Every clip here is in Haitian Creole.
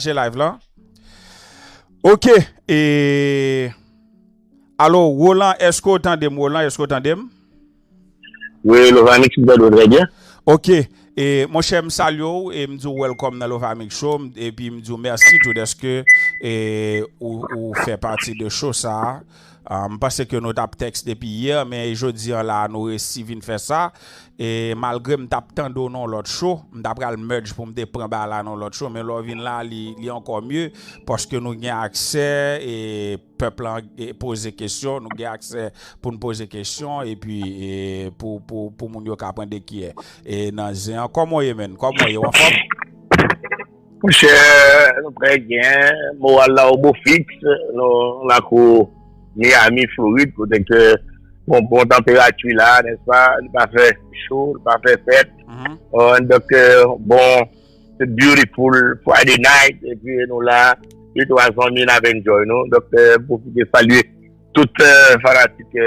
Pataje live la. Ok e Alo Roland eske ou tandem Roland eske ou tandem? Wi Lovamix m tande w trè byen. Ok e monchè m salye w e m di w welcome nan Lovamix show epi m di w mèsi tou deske e ou fè pati de show sa. M panse ke nou tap text depi hier men jodi an la nou resi vin fè sa e malgre m tap tande w nan lòt show m ta pral merge pou m te pran bagay la nan lòt show men lè w vin la li ankò mieux paske nou gen aksè e pèp lan poze kesyon nou gen aksè pou n poze kesyon epi pou moun yo ka pran dekiyè e nan zen an kòman w ye menn kòman w ye w anfòm? Monchè nou prè gen moral la o bo fiks nou lakou Miami Florid kote ke gon bon tanperati la nèspa li pa fè cho li pa fè frèt dòk bon se beautiful Friday night epi nou la e tou a zanmi n ap enjoy nou dòk m pwofite salye tout fanatik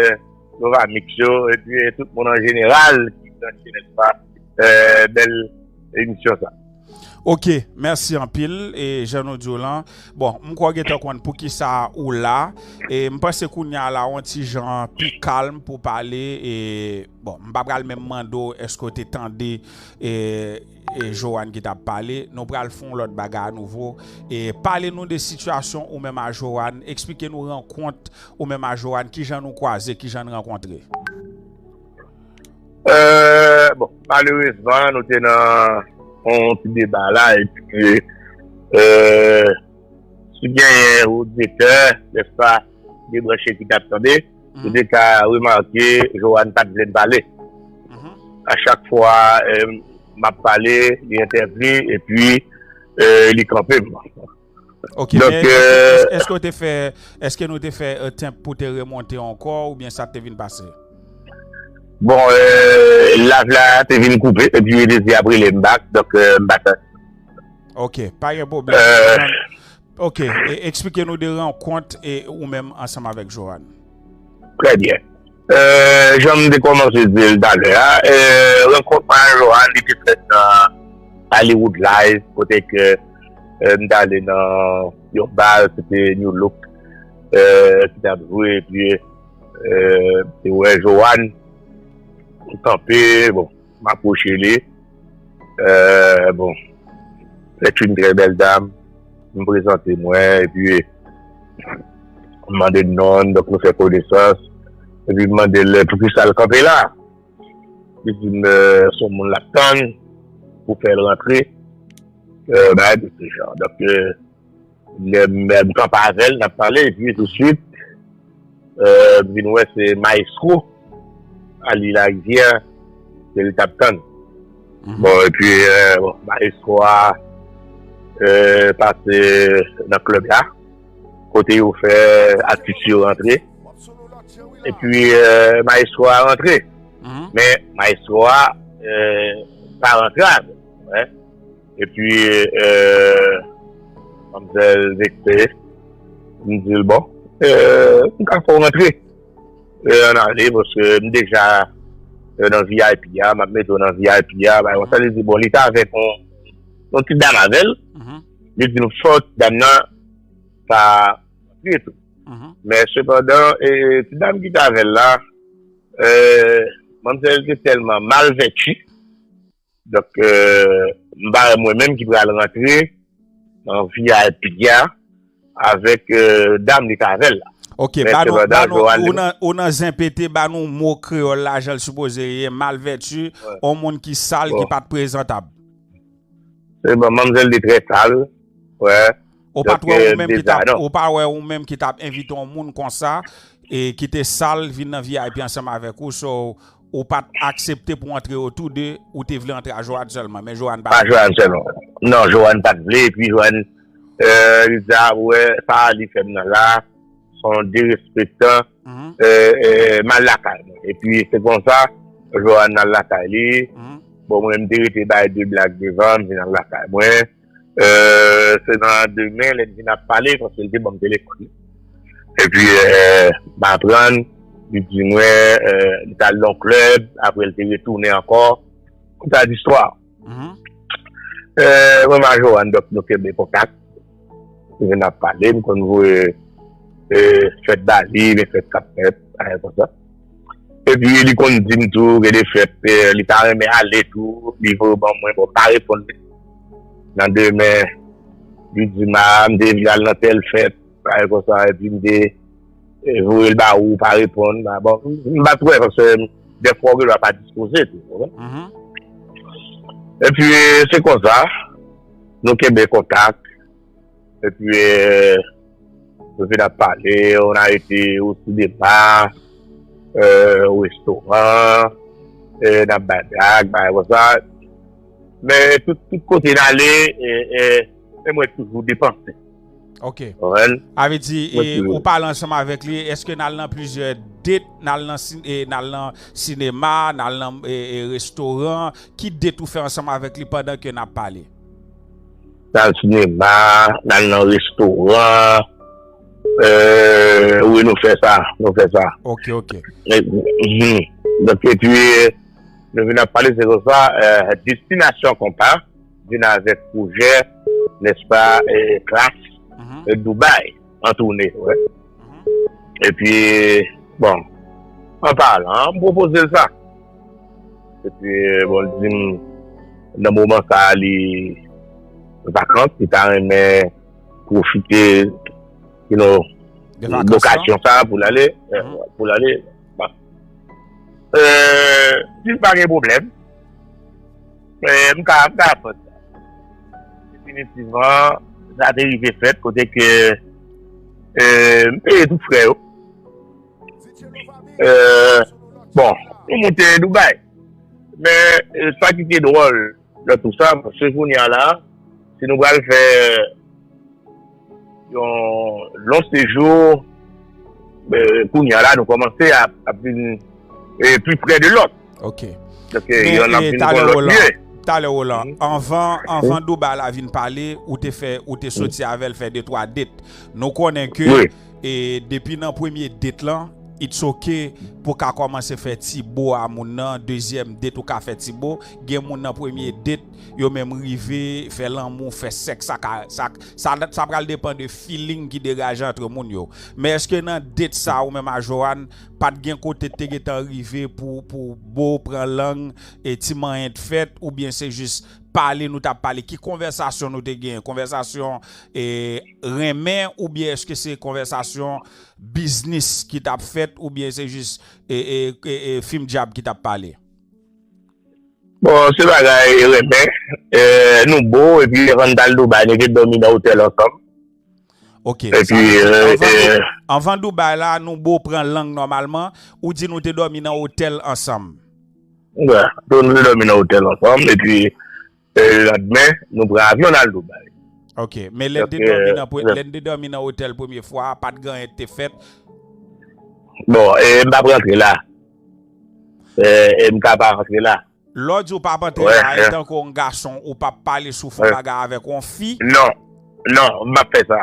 Novamix yo epi tout moun an jeneral ki branche nèspa bèl emisyon sa. Ok merci anpil e jan nou diw lan bon m kwè w gentan konn poukisa ou la e m panse kounya la on ti jan pi kalm pou pale e bon m pa pral menm mande w eske w te tande e Joanne ki tap pale nou pral fon lòt bagay a nouvo e pale nou de sitiyasyon ou menm a Joanne eksplike nou rankont ou menm a Joanne kijan nou kwaze kijan n rankontre. Bon, malerezman nou te nan yon ti deba la e pi si gen yon oditè, nespa, de branche ki tap tande, ou de ka remake Johanne pat vle m pale. A chak fwa map pale, li entèvni e pi li kanpe m. Ok, men eske ou te fè, eske nou te fè attempt pou te remonte ankò oubyen sa te vin pase? Bon, live la te vin koupe epi yo te di yap rele m back, donk m pa t. Ok, pa gen pwoblèm. Ok, eksplike nou de rankont ou menm ansanm avèk Johanne. Trè byen. Janm te kòmanse di l talè a, rankont mwen ak Johanne li te fèt nan Hollywood Live kote ke m t ale nan yon bal se te Nu Look ki t ap jwe epi m te wè Johanne kanpe bon. M apwoche li, Èè, bon, sèt yn trè bèl dam, m prezante mwen, epi m mande l non l, donk nou fè konesans, epi m mande l poukisa l kanpe la? Li di m s on moun l ap tann pou fè l rantre, bagay de se jan. Lèm kanpe avèl nap pale epi tou swit m vin wè se maestro Aly Laguier ke li tap tann. Bon epi maestro a pase nan klèb la kote yo fè atis yo rantre epi maestro a rantre men maestro a pa rantre avèl. Epi manmzèl vekse, m di l bon, m ka fè w rantre an ale paske m deja nan vip a, m ap mete w nan vip a, bay konsa, li di bon li te avèk yon ti dam avè l, li di m fò ti dam nan ta rantre tou. Men sepandan ti dam ki te avè l la, manmzèl te tèlman malvèti. Donk m pa wè mwen menm ki pral rantre nan vip a avèk dam li k avèl la. Ok ba nou ba nou ou nan zen pete ba nou mo kreyòl la jan l sipoze ye malvèti on moun ki sal ki pat prezantab. Se bon manmzèl li trè sal wè. Ou pa wè ou menm ki tap ou pa wè ou menm ki tap envite on moun konsa e ki te sal vin nan vip ansanm avèk ou so Ou pat aksepte pou antre yo tou 2, ou te vle antre a Johanne sèlman, men Johanne pat vle. A Johanne sèlman. Non, Johanne pat vle, epi Johanne, euh, li di a, ou wè, sa a li fè m nan la a, s on derespektan, euh, m al lakay mwen. Epi se konsa, Johanne al lakay li, bon mwen m te rete bay 2 blag devan, m vin al lakay mwen. Se nan demen lè n vin ap pale paske li te ban m telefòn li. Epi m aprann li di mwen li t al nan yon klèb apre li te retounen ankò. Konsa listwa. Mwen m a Johanne donk nou kenbe kontak. Nou vin ap pale m konn voye fèt ba li, fèt k ap fèt, bagay konsa. Epi li konn di m tou gen de fèt li ta renmen ale tou, li voye w ban mwen, bon m pa reponn li. Nan demen, li di m a, m te vle al nan tèl fèt, bagay konsa, epi m te voye l ba ou, ou pa reponn. Bon, m pa t wè, paske dè fwa ou gen dwa pa dispoze tou, ou konprann. Epi se konsa, nou kenbe kontak. E pi yo vin ap pale, on a ete o sinema, o restoran, n ap bay blag, bay konsa. Men tout kote n ale, e mwen toujou depanse. Ok. A ve di, ou pale ansanm avèk li, eske n al nan plizyè det, n al nan sinema, n al nan restoran, ki det ou fè ansanm avèk li pandan ke n ap pale? N al sinema, n al nan restoran, eee, wi nou fè sa, nou fè sa. Ok, ok. Donk e pi, nou vin ap pale se konsa, Destinasyon Konpa vin avèk pwojè, nèspa, klas Dubai. an toune, wè. E pi, bon, an palan, m pwopoze l sa. E pi, bon, l di m, nan moman sa a li vakans, li ta renmen pwofite, you know, lokasyon sa a pou l ale, pou l ale. Eee, si l pa gen pwoblèm. M ka aprann sa. Definitivman, sa te rive fèt kote ke m peye tout frè yo. Bon, nou moute Dubai. Men, sa ki te dwòl nan tout sa, se kounye a la, si nou pral fè... Yon lon sejou, kounya la nou kòmanse ap vin pi prè de lòt. Ok. Donke yonn ap vin konn lòt mye. Talè Roland, anvan Douba la vin pale, ou te fè, ou te soti avèl fè de twa det. Nou konnen ke depi nan premye det lan, it's ok pou ka kòmanse fè ti bo a moun nan, dezyèm det ou ka fè ti bo, gen moun nan premye det yo menm rive fè lanmou, fè sèks ak. Sa pral depan de feeling ki degaje antre moun yo. Men eske nan date sa ou menm a Johanne pat gen kote te gentan rive pou pou boo pran lang e ti manyen t fèt oubyen se jis pale nou tap pale ki konvèsasyon nou te genyen konvèsasyon e renmen oubyen eske se konvèsasyon biznis ki tap fèt oubyen se jis e e e fim dyab ki tap pale? Bon se bagay renmen Nou bo epi avan nou tal Dubai nou te domi nan hotel ansanm Ok sa vle di avan Dubai la Nou bo pran lang normalman ou di nou te domi nan hotel ansanm Wi Nou te domi nan hotel ansanm epi Le landmen nou pran avyon nal Dubai. Ok, men lèn te dòmi nan pre, lèn te dòmi nan otèl premye fwa a pat gen anyen ki te fèt? Bon, m pap rantre la. M ka pa rantre la. Lè w di ou pap rantre la, etanke yon gason ou pap pale sou fon bagay avèk yon fi? Non, non, m pap fè sa.